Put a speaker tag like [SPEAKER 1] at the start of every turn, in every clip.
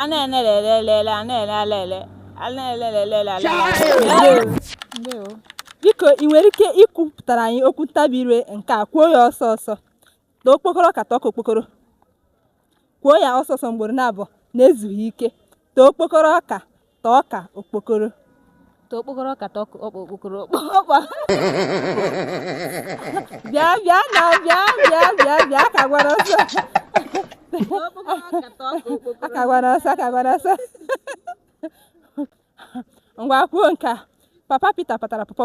[SPEAKER 1] a na-elele elele a na-ele ala ele a na-elele elele ala ele Ndewo. biko ị nwere ike ikwupụtara anyị okwu ntabi ire nke a kwuo ya ọsọ ọsọ ta okpokoro ọka ta ọka okpokoro kwuo ya ọsọ ọsọ mgboro naabọ na-ezughị ike ta okpokoro ọka ta ọka okpokoro ta
[SPEAKER 2] okpokoro ọka ta ọka okpokoro
[SPEAKER 1] ọkpa bịa bịa na bịa bịa bịa bịa ka gwara ọsọ aka gwara ọsọ aka gwara ọsọ ngwa kwuo nke a papa Peter patara pọpọ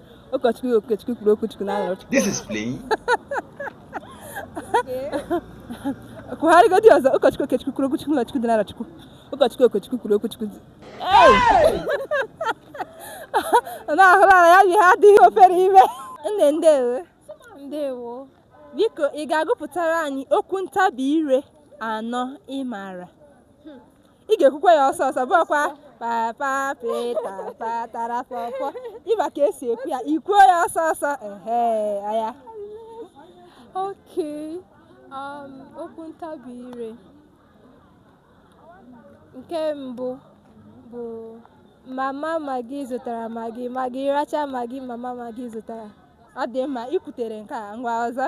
[SPEAKER 3] ụkọchukwu okechukwu kwuru okwuchukwu n'Arọchukwu This is
[SPEAKER 1] playing. kwugharịgodi ọzọ ụkọchukwu okechukwu kwuru okwuchukwu n'ụlọchukwu dị n'Arọchukwu ụkọchukwu okechukwu
[SPEAKER 3] kwuru okwuchukwu dị
[SPEAKER 1] na-ahụrụ ala ya ihe a adịghị ofere ime nne ndewo
[SPEAKER 2] ndewo biko ị
[SPEAKER 1] ga-agụpụtara anyị okwu ntabi ire anọ ị maara ị ga-ekwukwa ya ọsọ ọsọ bụkwa papa pita patara pọpọ ị ma ka e si ekwu ya i kwuo ya ọsọ ọsọ ehe aya Okay.
[SPEAKER 2] Um, okwu ntabi ire. Nke mbụ bụ mama magi zụtara magi magi racha magi mama magi zụtara. ọ dị mma
[SPEAKER 1] i kwutere nke a ngwa ọzọ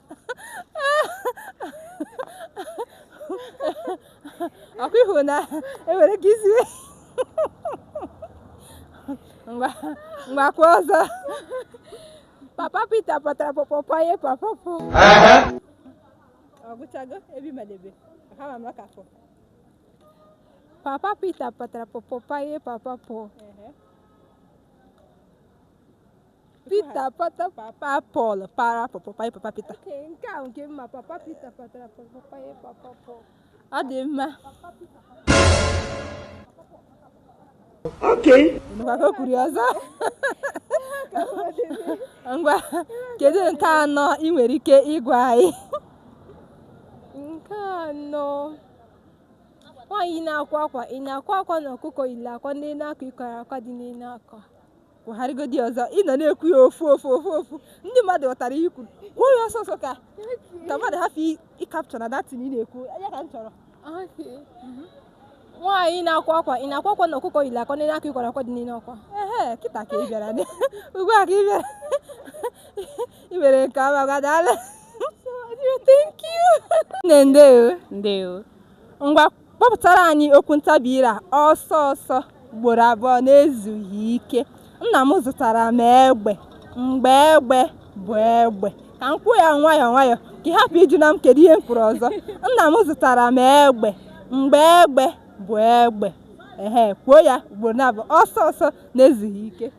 [SPEAKER 1] ọ kwa ị hụ na e nwere ka i si ngwa ngwa kwuo ọzọ
[SPEAKER 2] papa Peter patara pọpọ panye papa
[SPEAKER 1] Pọl ọ gwụchago ebe ị madebe ha ma maka fọ papa Peter patara pọpọ
[SPEAKER 2] panye papa Pọl
[SPEAKER 1] Pita pata papa Pọl para pọpọ panye papa Pita. Okay, nke a nke
[SPEAKER 2] mma papa Pita patara pọpọ panye papa Pọl. Ọ dị mma.
[SPEAKER 4] Okay. Ngwa ka o kwuru ya ọzọ.
[SPEAKER 1] Ngwa, kedu nke anọ ị nwere ike ịgwa anyị?
[SPEAKER 2] Nke anọ nwaanyị na-akwa akwa ị na-akwa akwa na ọkụkọ yiri akwa n'elu akwa ị kwara akwa dị n'elu akwa.
[SPEAKER 1] kwugharịgodi ọzọ ị nọ na-ekwu ya ofu ofu ofu ofu ndị mmadụ ghọtara ihe i kwu kwuo ya ọsọ ọsọ ka ka mmadụ hapụ ịcapture na that thing ị na-ekwu ọ ya ka m chọrọ
[SPEAKER 2] nwaanyị na-akwa akwa ị na-akwa akwa na ọkụkọ yiri akwa n'elu akwa ị kwara akwa dị n'elu akwa ehe kịta ka ị
[SPEAKER 1] bịara ugbu a ka ị bịara ị mere nke ọma ngwa
[SPEAKER 2] daalụ thank you nne ndewo ndewo
[SPEAKER 1] ngwa kpọpụtara anyị okwu ntabi ire a ọsọ ọsọ ugboro abụọ na-ezughị ike nna m zụtara m egbe mgbe egbe bụ egbe ka m kwuo ya nwayọọ nwayọọ ka ị hapụ ịjụ na m kedu ihe m kwuru ọzọ nna m zụtara m egbe mgbe egbe bụ egbe ehe kwuo ya ugboro naabọ ọsọ ọsọ na-ezughị ike